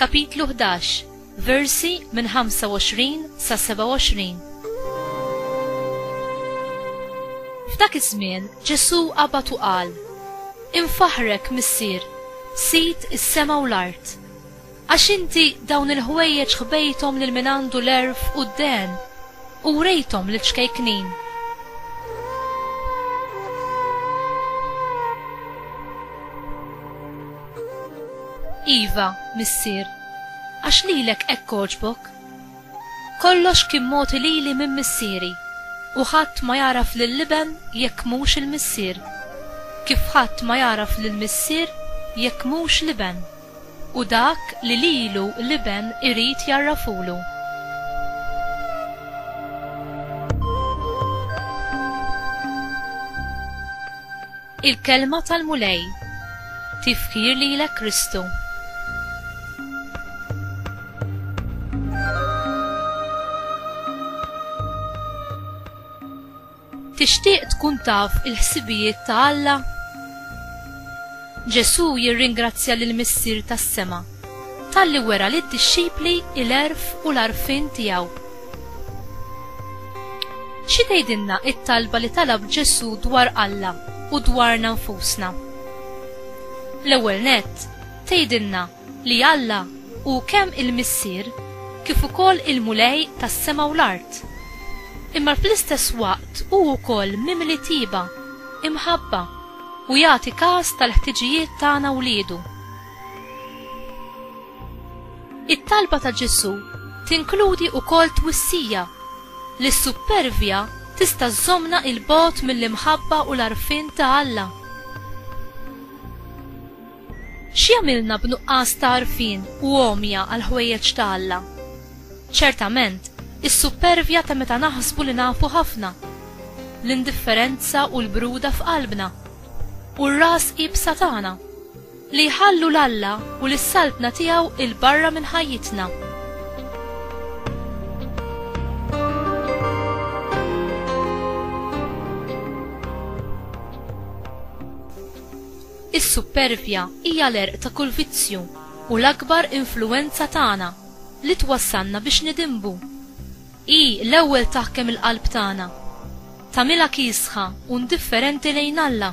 Kapitlu Ħdax, Versi minn 25 sa 27 F'dak iż-żmien Ġesù qabad u qal, Infaħħrek, Missier, Sid is-sema u l-art, għax inti dawn il-ħwejjeġ ħbejthom lil min għandu l-għerf u d-dehen u wrejthom liċ-ċkejknin. Iva, missier, għax lilek hekk għoġbok. Kollox kien mogħti lili minn missieri, u ħadd ma jagħraf lill-Iben jekk mhux il-Missier, kif ħadd ma jagħraf lill-Missier jekk mhux l-Iben, u dak li lilu l-Iben irid jgħarrafulu. Il-Kelma tal-Mulej Tifħir lilek Kristu. Tixtieq tkun taf il-ħsibijiet ta' Alla? Ġesù jirringrazzja lil Missier tas-sema talli wera lid-dixxipli l-għerf u l-għarfien tiegħu. Xi tgħidilna t-talba li talab Ġesù dwar Alla u dwarna nfusna? L-ewwel nett, tgħidilna li Alla hu kemm il-Missier kif ukoll il-Mulej tas-sema u l-art. Imma fl-istess waqt hu wkoll mimli tieba, imħabba, u jagħti kas tal-ħtiġijiet tagħna wliedu. It-talba ta' Ġesù tinkludi wkoll twissija li s-suppervja tista' żżommna 'il bogħod mill-imħabba u l-għarfien ta' Alla. X'jagħmilna b'nuqqas ta' għarfien u għomja għall-ħwejjeġ ta' Alla? Ċertament, is-suppervja ta' meta naħsbu li nafu ħafna, l-indifferenza u l-bruda f'qalbna, u r-ras iebsa tagħna. Li jħallu 'l Alla u lis-Saltna tiegħu 'il barra minn ħajjitna. Is-suppervja hija l-għerq ta' kull vizzju u l-akbar influwenza tagħna li twassalna biex nidinbu. Hi l-ewwel taħkem il-qalb tagħna. Tagħmilha kiesħa u ndifferenti lejn Alla.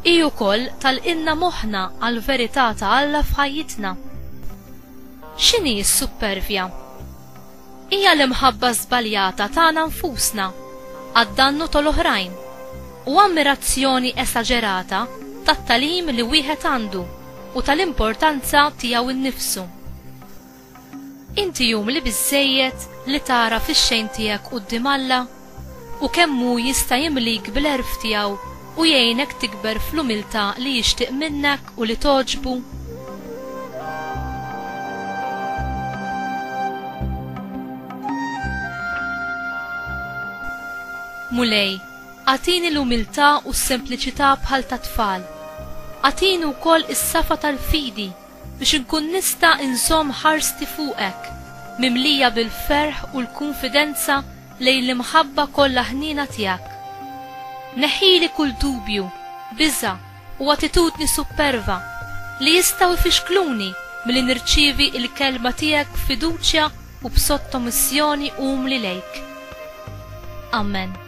Hi wkoll tagħlqilna moħħna għall-verità ta' Alla f'ħajjitna. X'inhi s-suppervja? Hija l-imħabba żbaljata tagħna nfusna għad-dannu tal-oħrajn u ammirazzjoni esaġerata tat-tagħlim li wieħed għandu u tal-importanza tiegħu nnifsu. Inti umli biżżejjed li tagħraf ix-xejn tiegħek quddiem Alla u kemm hu jista' jimlik bl-għerf tiegħu u jgħinek tikber fl-umiltà li jixtieq minnek u li togħġbu? Mulej, agħtini l-umiltà u s-sempliċità bħal tat-tfal. Agħtini wkoll is-safa tal-fidi Biex inkun nista' inżomm ħarsti fuqek, mimlija bil-ferħ u l-kunfidenza lejn l-imħabba kollha ħniena tiegħek. Neħħili kull dubju, biża', u attitudni supperva li jistgħu jfixkluni milli nirċievi l-Kelma tiegħek b'fiduċja u b'sottomissjoni umli lejk. Amen.